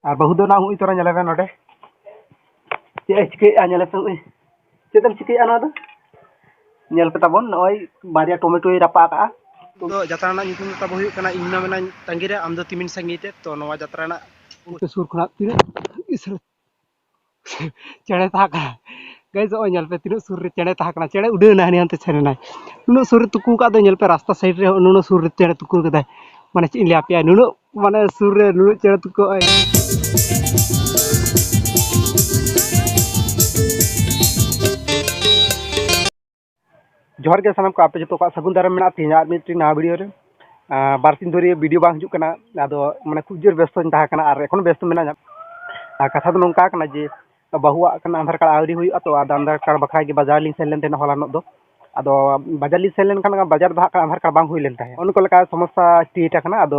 ᱟᱨ ᱵᱟᱹᱦᱩ ᱫᱚ ᱱᱟᱜ ᱦᱩᱭ ᱛᱚᱨᱟ ᱧᱮᱞᱮ ᱢᱮ ᱱᱚᱰᱮ ᱪᱮᱫ ᱮ ᱪᱤᱠᱟᱹᱭᱮᱫᱼᱟ ᱧᱮᱞᱮ ᱯᱮ ᱦᱩᱭ ᱪᱮᱫ ᱮᱢ ᱪᱤᱠᱟᱹᱭᱮᱫᱼᱟ ᱱᱚᱣᱟ ᱫᱚ ᱧᱮᱞ ᱯᱮ ᱛᱟᱵᱚᱱ ᱱᱚᱜᱼᱚᱭ ᱵᱟᱨᱭᱟ ᱴᱚᱢᱮᱴᱳᱭ ᱨᱟᱯᱟᱜ ᱟᱠᱟᱜᱼᱟ ᱫᱚ ᱡᱟᱛᱨᱟ ᱨᱮᱱᱟᱜ ᱧᱩᱛᱩᱢ ᱫᱚ ᱛᱟᱵᱚ ᱦᱩᱭᱩᱜ ᱠᱟᱱᱟ ᱤᱧ ᱢᱟ ᱢᱮᱱᱟᱧ ᱛᱟᱺᱜᱤ ᱨᱮ ᱟᱢ ᱫᱚ ᱛᱤᱢᱤᱱ ᱥᱟᱺᱜᱤᱧ ᱛᱮ ᱛᱚ ᱱᱚᱣᱟ ᱡᱟᱛᱨᱟ ᱨᱮᱱᱟᱜ ᱥᱩᱨ ᱠᱷᱚᱱᱟᱜ ᱛᱤᱱᱟᱹᱜ ᱪᱮᱬᱮ ᱥᱟᱵ ᱠᱟᱜ ᱜᱟᱭᱤᱥ ᱱᱚᱜᱼᱚᱸᱭ ᱧᱮᱞ ᱯᱮ ᱛᱤᱱᱟᱹᱜ ᱥᱩᱨ ᱨᱮ ᱪᱮᱬᱮ ᱛᱟᱦᱮᱸ ᱠᱟᱱᱟᱭ ᱪᱮᱬᱮ ᱩᱰᱟᱹᱣ ᱮᱱᱟᱭ ᱦᱟᱹᱱᱤ ᱦᱟᱱᱛᱮ ᱥᱮᱱ ᱮᱱᱟᱭ ᱩᱱᱟᱹᱜ ᱥᱩᱨ ᱨᱮ ᱛᱩᱠᱟᱹ ᱠᱟᱜ ᱫᱚᱭ ᱧᱮᱞ ᱯᱮ ᱨᱟᱥᱛᱟ ᱥᱟᱭᱤᱰ ᱨᱮ ᱱᱩᱱᱟᱹᱜ ᱥᱩᱨ ᱨᱮ ᱪᱮᱬᱮ ᱛᱩᱠᱟᱹ ᱠᱟᱫᱟᱭ ᱢᱟᱱᱮ ᱪᱮᱫ ᱤᱧ ᱞᱟᱹᱭ ᱟᱯᱮᱭᱟ ᱱᱩᱱᱟᱹᱜ ᱢᱟᱱᱮ ᱥᱩᱨ ᱨᱮ ᱱᱩᱱᱟᱹᱜ ᱪᱮᱬᱮ ᱛᱩᱠᱟᱹ ᱱᱚᱜᱼᱚᱸᱭ ᱡᱚᱦᱟᱨ ᱜᱮ ᱥᱟᱱᱟᱢ ᱠᱚ ᱟᱯᱮ ᱡᱚᱛᱚ ᱠᱚᱣᱟᱜ ᱥᱟᱹᱜᱩᱱ ᱫᱟᱨᱟᱢ ᱢᱮᱱᱟᱜᱼᱟ ᱛᱮᱦᱮᱧ ᱟᱨ ᱢᱤᱫᱴᱤᱡ ᱱᱟᱣᱟ ᱵᱷᱤᱰᱤᱭᱳ ᱨᱮ ᱵᱟᱨ ᱥᱤᱧ ᱫᱷᱚᱨᱮ ᱵᱷᱤᱰᱤᱭᱳ ᱵᱟᱝ ᱦᱤᱡᱩᱜ ᱠᱟᱱᱟ ᱟᱫᱚ ᱢᱟᱱᱮ ᱠᱷᱩᱵᱽ ᱡᱳᱨ ᱵᱮᱥᱛᱚᱧ ᱛᱟᱦᱮᱸ ᱠᱟᱱᱟ ᱟᱨ ᱮᱠᱷᱚᱱ ᱦᱚᱸ ᱵᱮᱥᱛᱚ ᱢᱤᱱᱟᱹᱧᱟ ᱟᱨ ᱠᱟᱛᱷᱟ ᱫᱚ ᱱᱚᱝᱠᱟ ᱠᱟᱱᱟ ᱡᱮ ᱵᱟᱹᱦᱩᱣᱟᱜ ᱠᱷᱟᱱ ᱟᱫᱷᱟᱨ ᱠᱟᱨᱰ ᱟᱹᱣᱨᱤ ᱦᱩᱭᱩᱜᱼᱟ ᱛᱚ ᱟᱫᱚ ᱟᱫᱷᱟᱨ ᱠᱟᱨᱰ ᱵᱟᱠᱷᱨᱟ ᱜᱮ ᱵᱟᱡᱟᱨ ᱞᱤᱧ ᱥᱮᱱ ᱞᱮᱱ ᱛᱟᱦᱮᱱᱟ ᱦᱚᱞᱟᱱᱚᱜ ᱫᱚ ᱟᱫᱚ ᱵᱟᱡᱟᱨ ᱞᱤᱧ ᱥᱮᱱ ᱞᱮᱱᱠᱷᱟᱱ ᱵᱟᱡᱟᱨ ᱫᱚ ᱦᱟᱸᱜ ᱠᱷᱟᱱ ᱟᱫᱷᱟᱨ ᱠᱟᱨᱰ ᱵᱟᱝ ᱦᱩᱭ ᱞᱮᱱ ᱛᱟᱦᱮᱸᱫ ᱚᱱᱠᱟ ᱞᱮᱠᱟ ᱥᱚᱢᱚᱥᱥᱟ ᱠᱨᱤᱭᱮᱴ ᱠᱟᱱᱟ ᱟᱫᱚ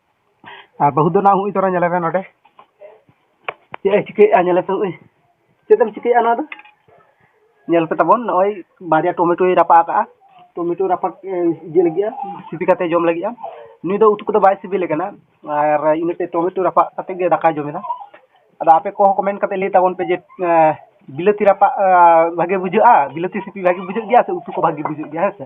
ᱟᱨ ᱵᱟᱹᱦᱩ ᱫᱚ ᱱᱟᱦᱟᱜ ᱦᱚᱸᱜᱼᱚᱭ ᱛᱚᱨᱟ ᱧᱮᱞᱮ ᱢᱮ ᱱᱚᱰᱮ ᱪᱮᱫ ᱮ ᱪᱤᱠᱟᱹᱭᱮᱫᱼᱟ ᱧᱮᱞᱮ ᱯᱮ ᱦᱚᱸᱜᱼᱚᱭ ᱪᱮᱫ ᱮᱢ ᱪᱤᱠᱟᱹᱭᱮᱫᱼᱟ ᱱᱚᱣᱟ ᱫᱚ ᱧᱮᱞ ᱯᱮ ᱛᱟᱵᱚᱱ ᱱᱚᱜᱼᱚᱭ ᱵᱟᱨᱭᱟ ᱴᱚᱢᱮᱴᱳᱭ ᱨᱟᱯᱟᱜ ᱟᱠᱟᱜᱼᱟ ᱴᱚᱢᱮᱴᱳ ᱨᱟᱯᱟᱜ ᱤᱭᱟᱹ ᱞᱟᱹᱜᱤᱫᱼᱟ ᱥᱤᱯᱤ ᱠᱟᱛᱮ ᱡᱚᱢ ᱞᱟᱹᱜᱤᱫᱼᱟ ᱱᱩᱭ ᱫᱚ ᱩᱛᱩ ᱠᱚᱫᱚ ᱵᱟᱭ ᱥᱤᱵᱤᱞᱮ ᱠᱟᱱᱟ ᱟᱨ ᱤᱱᱟᱹᱛᱮ ᱴᱚᱢᱮᱴᱳ ᱨᱟᱯᱟᱜ ᱠᱟᱛᱮ ᱜᱮ ᱫᱟᱠᱟᱭ ᱡᱚᱢᱮᱫᱟ ᱟᱫᱚ ᱟᱯᱮ ᱠᱚᱦᱚᱸ ᱠᱚᱢᱮᱱᱴ ᱠᱟᱛᱮ ᱞᱟᱹᱭ ᱛᱟᱵᱚᱱ ᱯᱮ ᱡᱮ ᱵᱤᱞᱟᱹᱛᱤ ᱨᱟᱯᱟᱜ ᱵᱷᱟᱜᱮ ᱵᱩᱡᱷᱟᱹᱜᱼᱟ ᱵᱤᱞᱟᱹᱛᱤ ᱥᱤᱯᱤ ᱵᱷᱟᱜᱮ ᱵᱩᱡᱷᱟᱹᱜ ᱜᱮᱭᱟ ᱥᱮ ᱩᱛᱩ ᱠᱚ ᱵᱷᱟᱜᱮ ᱵᱩᱡᱷᱟᱹᱜ ᱜᱮᱭᱟ ᱦᱮᱸ ᱥᱮ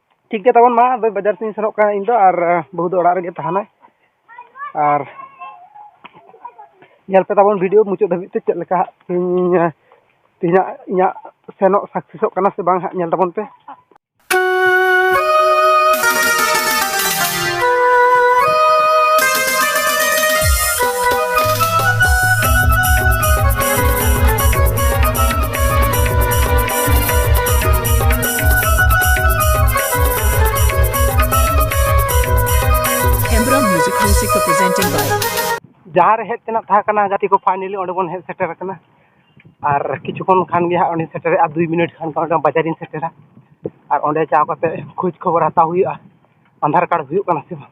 ᱴᱷᱤᱠ ᱜᱮᱭᱟ ᱛᱟᱵᱚᱱ ᱢᱟ ᱟᱫᱚ ᱵᱟᱡᱟᱨ ᱥᱮᱫ ᱤᱧ ᱥᱮᱱᱚᱜ ᱠᱟᱱᱟ ᱤᱧ ᱫᱚ ᱟᱨ ᱵᱟᱹᱦᱩ ᱫᱚ ᱚᱲᱟᱜ ᱨᱮᱜᱮ ᱛᱟᱦᱮᱱᱟᱭ ᱟᱨ ᱧᱮᱞ ᱯᱮ ᱛᱟᱵᱚᱱ ᱵᱷᱤᱰᱤᱭᱳ ᱢᱩᱪᱟᱹᱫ ᱫᱷᱟᱹᱵᱤᱡ ᱛᱮ ᱪᱮᱫ ᱞᱮᱠᱟ ᱦᱟᱸᱜ ᱤᱧ ᱛᱮᱦᱮᱧᱟᱜ ᱤᱧᱟᱹᱜ ᱥᱮᱱᱚᱜ ᱥᱟᱠᱥᱮᱥᱚᱜ ᱠᱟᱱᱟ ᱥᱮ ᱵᱟᱝ ᱦᱟᱸᱜ ᱧᱮᱞ ᱛᱟᱵᱚᱱ ᱯᱮ Embra Music Music presented by ᱡᱟᱦᱟᱸ ᱨᱮ ᱦᱮᱡ ᱛᱮᱱᱟᱜ ᱛᱟᱦᱮᱸ ᱠᱟᱱᱟ ᱜᱟᱛᱮ ᱠᱚ ᱯᱷᱟᱭᱱᱮᱞᱤ ᱚᱸᱰᱮ ᱵᱚᱱ ᱦᱮᱡ ᱥᱮᱴᱮᱨ ᱟᱠᱟᱱᱟ ᱟᱨ ᱠᱤᱪᱷᱩ ᱠᱷᱚᱱ ᱠᱷᱟᱱ ᱜᱮ ᱦᱟᱸᱜ ᱚᱸᱰᱮᱧ ᱥᱮᱴᱮᱨᱚᱜᱼᱟ ᱟᱨ ᱫᱩᱭ ᱢᱤᱱᱤᱴ ᱠᱷᱟᱱ ᱜᱮ ᱵᱟᱡᱟᱨᱤᱧ ᱥᱮᱴᱮᱨᱟ ᱟᱨ ᱚᱸᱰᱮ ᱪᱟᱞᱟᱣ ᱠᱟᱛᱮᱫ ᱠᱷᱳᱡᱽ ᱠᱷᱚᱵᱚᱨ ᱦᱟᱛᱟᱣ ᱦᱩᱭᱩᱜᱼᱟ ᱟᱫᱷᱟᱨ ᱠᱟᱨᱰ ᱦᱩᱭᱩᱜ ᱠᱟᱱᱟ ᱥᱮ ᱵᱟᱝ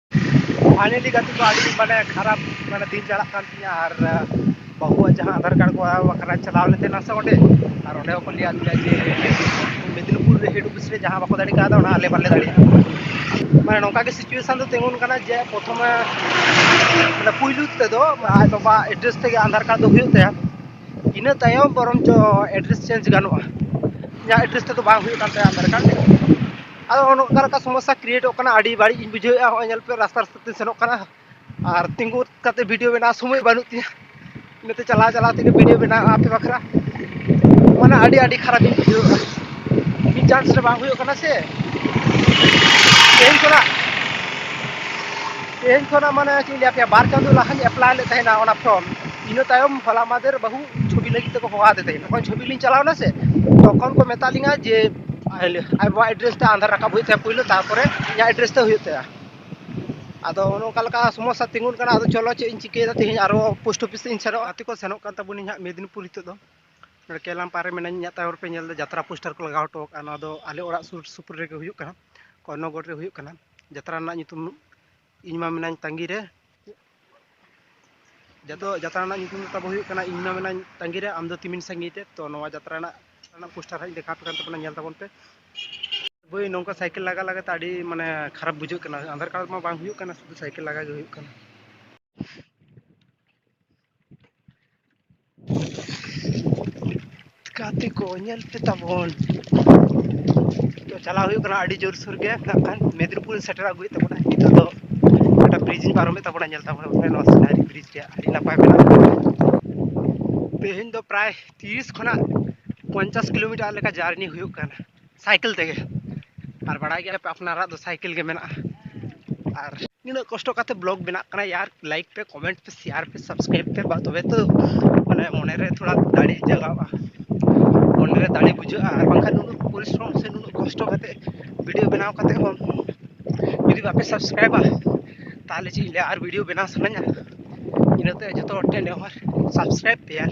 ᱯᱷᱟᱭᱱᱮᱞᱤ ᱜᱟᱛᱮ ᱠᱚ ᱟᱹᱰᱤ ᱢᱟᱱᱮ ᱠᱷᱟᱨᱟᱯ ᱢᱟᱱᱮ ᱫᱤᱱ ᱪᱟᱞᱟᱜ ᱠᱟᱱ ᱛᱤᱧᱟᱹ ᱟᱨ ᱵᱟᱹᱦᱩᱣᱟᱜ ᱡᱟᱦᱟᱸ ᱟᱫᱷᱟᱨ ᱠᱟᱨᱰ ᱠᱚ ᱵᱟᱠᱷᱨᱟ ᱪᱟᱞᱟᱣ ᱞᱮᱱ ᱛᱟᱦᱮᱱᱟ ᱥᱮ ᱚᱸᱰᱮ ᱟᱨ ᱚᱸᱰᱮ ᱦᱚᱸᱠᱚ ᱞᱟᱹᱭᱟᱫ ᱞᱮᱭᱟ ᱡᱮ ᱢᱮᱫᱽᱱᱤᱯᱩᱨ ᱨᱮ ᱦᱮᱰ ᱚᱯᱷᱤᱥ ᱨᱮ ᱡᱟᱦᱟᱸ ᱵᱟᱠᱚ ᱫᱟᱲᱮ ᱠᱟᱣᱫᱟ ᱚᱱᱟ ᱟᱞᱮ ᱵᱟᱞᱮ ᱫᱟᱲᱮᱭᱟᱜᱼᱟ ᱢᱟᱱᱮ ᱱᱚᱝᱠᱟ ᱜᱮ ᱥᱤᱪᱩᱭᱮᱥᱚᱱ ᱫᱚ ᱛᱤᱸᱜᱩᱱ ᱠᱟᱱᱟ ᱡᱮ ᱯᱨᱚᱛᱷᱚᱢᱮ ᱢᱟᱱᱮ ᱯᱩᱭᱞᱩ ᱛᱮᱫᱚ ᱟᱡ ᱵᱟᱵᱟ ᱮᱰᱨᱮᱥ ᱛᱮᱜᱮ ᱟᱫᱷᱟᱨ ᱠᱟᱨᱰ ᱫᱚ ᱦᱩᱭᱩᱜ ᱛᱟᱭᱟ ᱤᱱᱟᱹ ᱛᱟᱭᱚᱢ ᱵᱚᱨᱚᱝ ᱪᱚ ᱮᱰᱨᱮᱥ ᱪᱮᱧᱡᱽ ᱜᱟᱱᱚᱜᱼᱟ ᱤᱧᱟᱹᱜ ᱮᱰᱨᱮᱥ ᱛᱮᱫᱚ ᱵᱟᱝ ᱦᱩᱭᱩᱜ ᱠᱟᱱ ᱛᱟᱭᱟ ᱟᱫᱷᱟᱨ ᱠᱟᱨᱰ ᱟᱫᱚ ᱱᱚᱝᱠᱟ ᱞᱮᱠᱟ ᱥᱚᱢᱚᱥᱥᱟ ᱠᱨᱤᱭᱮᱴᱚᱜ ᱠᱟᱱᱟ ᱟᱹᱰᱤ ᱵᱟᱹᱲᱤᱡ ᱤᱧ ᱵᱩᱡᱷᱟᱹᱣᱮᱫᱼᱟ ᱱᱚᱜᱼᱚᱭ ᱧᱮᱞ ᱯᱮ ᱨᱟᱥᱛᱟ ᱨᱟᱥᱛᱟ ᱛᱤᱧ ᱥᱮᱱᱚᱜ ᱠᱟᱱᱟ ᱟᱨ ᱛᱤᱸᱜᱩ ᱠᱟᱛᱮ ᱵᱷᱤᱰᱭᱳ ᱵᱮᱱᱟᱣ ᱥᱚᱢᱚᱭ ᱵᱟᱹᱱᱩᱜ ᱛᱤᱧᱟᱹ ᱤᱱᱟᱹᱛᱮ ᱪᱟᱞᱟᱣ ᱪᱟᱞᱟᱣ ᱛᱮᱜᱮ ᱵᱷᱤᱰᱭᱳ ᱵᱮᱱᱟᱣ ᱟᱯᱮ ᱵᱟᱠᱷᱨᱟ ᱢᱟᱱᱮ ᱟᱹᱰᱤ ᱟᱹᱰᱤ ᱠᱷᱟᱨᱟᱯ ᱤᱧ ᱵᱩᱡᱷᱟᱹᱣᱮᱫᱼᱟ ᱢᱤᱫ ᱪᱟᱱᱥ ᱨᱮ ᱵᱟᱝ ᱦᱩᱭᱩᱜ ᱠᱟᱱᱟ ᱥᱮ ᱛᱮᱦᱮᱧ ᱠᱷᱚᱱᱟᱜ ᱛᱮᱦᱮᱧ ᱠᱷᱚᱱᱟᱜ ᱢᱟᱱᱮ ᱪᱮᱫ ᱤᱧ ᱞᱟᱹᱭ ᱟᱯᱮᱭᱟ ᱵᱟᱨ ᱪᱟᱸᱫᱳ ᱞᱟᱦᱟᱧ ᱮᱯᱞᱟᱭ ᱞᱮᱫ ᱛᱟᱦᱮᱱᱟ ᱚᱱᱟ ᱯᱷᱨᱚᱢ ᱤᱱᱟᱹ ᱛᱟᱭᱚᱢ ᱦᱚᱞᱟ ᱢᱟᱫᱷᱮᱨ ᱵᱟᱹᱦᱩ ᱪᱷᱚᱵᱤ ᱞᱟᱹᱜᱤᱫ ᱛᱮᱠᱚ ᱦᱚᱦᱚ ᱟᱫᱮ ᱛᱟᱦᱮᱸᱫ ᱡᱚᱠᱷᱚᱱ ᱪᱷᱚᱵᱤ ᱞᱤᱧ ᱪᱟᱞᱟᱣ ᱮᱱᱟ ᱥᱮ ᱛᱚᱠᱷᱚᱱ ᱠᱚ ᱢᱮᱛᱟᱜ ᱞᱤᱧᱟᱹ ᱡᱮ ᱟᱡᱚᱣᱟᱜ ᱮᱰᱨᱮᱥ ᱛᱮ ᱟᱫᱷᱟᱨ ᱨᱟᱠᱟᱵ ᱦᱩᱭᱩᱜ ᱛᱟᱭᱟ ᱯᱳᱭᱞᱳ ᱛᱟᱨᱯᱚᱨᱮ ᱤᱧᱟᱹᱜ ᱮᱰᱨᱮᱥ ᱛᱮ ᱦᱩᱭᱩᱜ ᱛᱟᱭᱟ ᱟᱫᱚ ᱚᱱᱮ ᱚᱱᱠᱟ ᱞᱮᱠᱟ ᱥᱚᱢᱚᱥᱥᱟ ᱛᱤᱸᱜᱩᱱ ᱠᱟᱱᱟ ᱟᱫᱚ ᱪᱚᱞᱚ ᱪᱮᱫ ᱤᱧ ᱪᱤᱠᱟᱹᱭᱮᱫᱟ ᱛᱮᱦᱮᱧ ᱟᱨᱚ ᱯᱳᱥᱴ ᱚᱯᱷᱤᱥ ᱤᱧ ᱥᱮᱱᱚᱜᱼᱟ ᱜᱟᱛᱮ ᱠᱚ ᱥᱮᱱᱚᱜ ᱠᱟᱱ ᱛᱟᱵᱚᱱᱟ ᱤᱧᱟᱹᱜ ᱢᱮᱫᱽᱱᱤᱯᱩᱨ ᱱᱤᱛᱚᱜ ᱫᱚ ᱱᱚᱰᱮ ᱠᱮᱞᱟᱢ ᱯᱟᱨ ᱨᱮ ᱢᱮᱱᱟᱹᱧ ᱤᱧᱟᱹᱜ ᱛᱟᱭᱚᱢ ᱨᱮᱯᱮ ᱧᱮᱞ ᱮᱫᱟ ᱡᱟᱛᱨᱟ ᱯᱳᱥᱴᱟᱨ ᱠᱚ ᱞᱟᱜᱟᱣ ᱦᱚᱴᱚ ᱟᱠᱟᱫᱼᱟ ᱱᱚᱣᱟ ᱫᱚ ᱟᱞᱮ ᱚᱲᱟᱜ ᱥᱩᱨ ᱥᱩᱯᱩᱨ ᱨᱮᱜᱮ ᱦᱩᱭᱩᱜ ᱠᱟᱱᱟ ᱠᱚᱨᱱᱚᱜᱚᱲ ᱨᱮ ᱦᱩᱭᱩᱜ ᱠᱟᱱᱟ ᱡᱟᱛᱨᱟ ᱨᱮᱱᱟᱜ ᱧᱩᱛᱩᱢ ᱤᱧ ᱢᱟ ᱢᱮᱱᱟᱧ ᱛᱟᱺᱜᱤ ᱨᱮ ᱡᱚᱛᱚ ᱡᱟᱛᱨᱟ ᱨᱮᱱᱟᱜ ᱧᱩᱛᱩᱢ ᱛᱟᱵᱚ ᱦᱩᱭᱩᱜ ᱠᱟᱱᱟ ᱤᱧ ᱢᱟ ᱢᱮᱱᱟᱧ ᱛᱟᱺᱜᱤ ᱨᱮ ᱟᱢ ᱫᱚ ᱛᱤᱢᱤᱱ ᱥᱟᱺᱜᱤᱧ ᱨᱮ ᱛᱚ ᱱᱚᱣᱟ ᱡᱟᱛᱨᱟ ᱨᱮᱱᱟᱜ ᱨᱮᱱᱟᱜ ᱯᱳᱥᱴᱟᱨ ᱦᱟᱸᱜ ᱤᱧ ᱫᱮᱠᱷᱟᱣ ᱟᱯᱮ ᱠᱟᱱ ᱛᱟᱵᱚᱱᱟ ᱧᱮᱞ ᱛᱟᱵᱚᱱ ᱯᱮ ᱵᱟᱹᱭ ᱱᱚᱝᱠᱟ ᱥᱟᱭᱠᱮᱞ ᱞᱟᱜᱟ ᱞᱟᱜᱟ ᱛᱮ ᱟᱹᱰᱤ ᱢᱟᱱᱮ ᱠᱷᱟᱨᱟᱯ ᱵᱩᱡᱷᱟᱹᱜ ᱠᱟᱱᱟ ᱟᱫᱷᱟᱨ ᱠᱟᱨᱰ ᱢᱟ ᱵᱟᱝ ᱦᱩᱭᱩᱜ ᱠᱟᱱᱟ ᱥᱩᱫᱷᱩ ᱥᱟᱭᱠᱮᱞ ᱞᱟᱜᱟ ᱜᱮ ᱦᱩᱭᱩᱜ ᱠᱟᱱᱟ ᱜᱟᱛᱮ ᱠᱚ ᱧᱮᱞ ᱯᱮ ᱛᱟᱵᱚᱱ ᱛᱚ ᱪᱟᱞᱟᱣ ᱦᱩᱭᱩᱜ ᱠᱟᱱᱟ ᱟᱹᱰᱤ ᱡᱳᱨ ᱥᱳᱨ ᱜᱮ ᱱᱟᱜ ᱠᱷᱟᱱ ᱢᱮᱫᱽᱱᱤᱯᱩᱨ ᱥᱮᱴᱮᱨ ᱟᱹᱜᱩᱭᱮᱫ ᱛᱟᱵᱚᱱᱟ ᱱᱤᱛᱚᱜ ᱫᱚ ᱚᱱᱟ ᱵᱨᱤᱡᱽ ᱤᱧ ᱯᱟᱨᱚᱢᱮᱫ ᱛᱟᱵᱚᱱᱟ ᱧᱮᱞ ᱛᱟᱵᱚᱱᱟ ᱱᱚᱣᱟ ᱥᱤᱱᱟᱨᱤ ᱵᱨᱤᱡᱽ ᱨᱮᱭᱟᱜ ᱟᱹᱰᱤ ᱱᱟᱯᱟᱭ ᱢᱮᱱᱟᱜᱼᱟ ᱛᱮᱦᱮᱧ ᱫᱚ ᱯᱨᱟᱭ ᱛᱤᱨᱤᱥ ᱠᱷᱚᱱᱟᱜ ᱯᱚᱧᱪᱟᱥ ᱠᱤᱞᱳᱢᱤᱴᱟᱨ ᱞᱮᱠᱟ ᱡᱟᱹᱨᱱᱤ ᱦᱩᱭᱩᱜ ᱠᱟᱱᱟ ᱥᱟᱭᱠᱮᱞ ᱛᱮᱜᱮ ᱟᱨ ᱵᱟᱲᱟᱭ ᱜᱮᱭᱟ ᱯᱮ ᱟᱯᱱᱟᱨᱟᱜ ᱫᱚ ᱥᱟᱭᱠᱮᱞ ᱜᱮ ᱢᱮᱱᱟᱜᱼᱟ ᱟᱨ ᱱᱤᱱᱟᱹᱜ ᱠᱚᱥᱴᱚ ᱠᱟᱛᱮ ᱵᱞᱚᱜ ᱵᱮᱱᱟᱜ ᱠᱟᱱᱟ ᱭᱟᱨ ᱞᱟᱭᱤᱠ ᱯᱮ ᱠᱚᱢᱮᱱᱴ ᱯᱮ ᱥᱮᱭᱟᱨ ᱯᱮ ᱥᱟᱵᱥᱠᱨᱟᱭᱤᱵ ᱯᱮ ᱵᱟ ᱛᱚᱵᱮ ᱛᱚ ᱢᱟᱱᱮ ᱢᱚᱱᱮᱨᱮ ᱛᱷᱚᱲᱟ ᱫᱟᱲᱮ ᱡᱟᱜᱟᱜᱼᱟ ᱢᱚᱱᱮᱨᱮ ᱫᱟᱲᱮ ᱵᱩᱡᱷᱟᱹᱜᱼᱟ ᱟᱨ ᱵᱟᱝᱠᱷᱟᱱ ᱱᱩᱱᱟᱹᱜ ᱯᱚᱨᱤᱥᱨᱚᱢ ᱥᱮ ᱱᱩᱱᱟᱹᱜ ᱠᱚᱥᱴᱚ ᱠᱟᱛᱮ ᱵᱷᱤᱰᱤᱭᱳ ᱵᱮᱱᱟᱣ ᱠᱟᱛᱮ ᱦᱚᱸ ᱡᱩᱫᱤ ᱵᱟᱯᱮ ᱥᱟᱵᱥᱠᱨᱟᱭᱤᱵᱟ ᱛᱟᱦᱚᱞᱮ ᱪᱮᱫ ᱤᱧ ᱞᱟᱹᱭᱟ ᱟᱨ ᱵᱷᱤᱰᱤᱭᱳ ᱵᱮᱱᱟᱣ ᱥᱟᱱᱟᱧᱟ ᱤᱱᱟᱹᱛᱮ ᱡᱚᱛᱚ ᱦᱚᱲ ᱴᱷᱮᱱ ᱱᱮᱦᱚᱨ ᱥᱟᱵᱥᱠᱨᱟᱭᱤᱵ ᱯᱮ ᱭᱟᱨ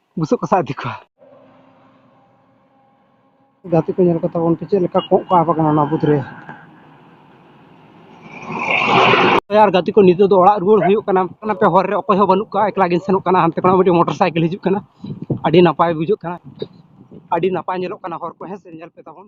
ᱵᱩᱥᱩᱵ ᱠᱚ ᱥᱟᱵ ᱤᱫᱤ ᱠᱚᱣᱟ ᱜᱟᱛᱮ ᱠᱚ ᱧᱮᱞ ᱠᱟᱛᱮ ᱵᱚᱱ ᱪᱮᱫ ᱞᱮᱠᱟ ᱠᱚᱸᱜ ᱠᱚ ᱟᱵ ᱟᱠᱟᱱᱟ ᱚᱱᱟ ᱵᱩᱫᱽ ᱨᱮ ᱟᱨ ᱜᱟᱛᱮ ᱠᱚ ᱱᱤᱛᱚᱜ ᱫᱚ ᱚᱲᱟᱜ ᱨᱩᱣᱟᱹᱲ ᱦᱩᱭᱩᱜ ᱠᱟᱱᱟ ᱚᱱᱟᱛᱮ ᱦᱚᱨ ᱨᱮ ᱚᱠᱚᱭ ᱦᱚᱸ ᱵᱟᱹᱱᱩᱜ ᱠᱚᱣᱟ ᱮᱠᱞᱟ ᱜᱤᱧ ᱥᱮᱱᱚᱜ ᱠᱟᱱᱟ ᱦᱟᱱᱛᱮ ᱠᱷᱚᱱᱟᱜ ᱢᱤᱫᱴᱤᱡ ᱢᱚᱴᱚᱨ ᱥᱟᱭᱠᱮᱞ ᱦᱤᱡᱩᱜ ᱠᱟᱱᱟ ᱟᱹᱰᱤ ᱱᱟᱯᱟᱭ ᱵᱩᱡᱷᱟᱹᱜ ᱠᱟᱱᱟ ᱟᱹᱰᱤ ᱱᱟᱯᱟᱭ ᱧᱮᱞᱚᱜ ᱠᱟᱱᱟ ᱦᱚᱨ ᱠᱚ ᱦᱮᱸ ᱥᱮ ᱧᱮᱞ ᱯᱮ ᱛᱟᱵᱚᱱ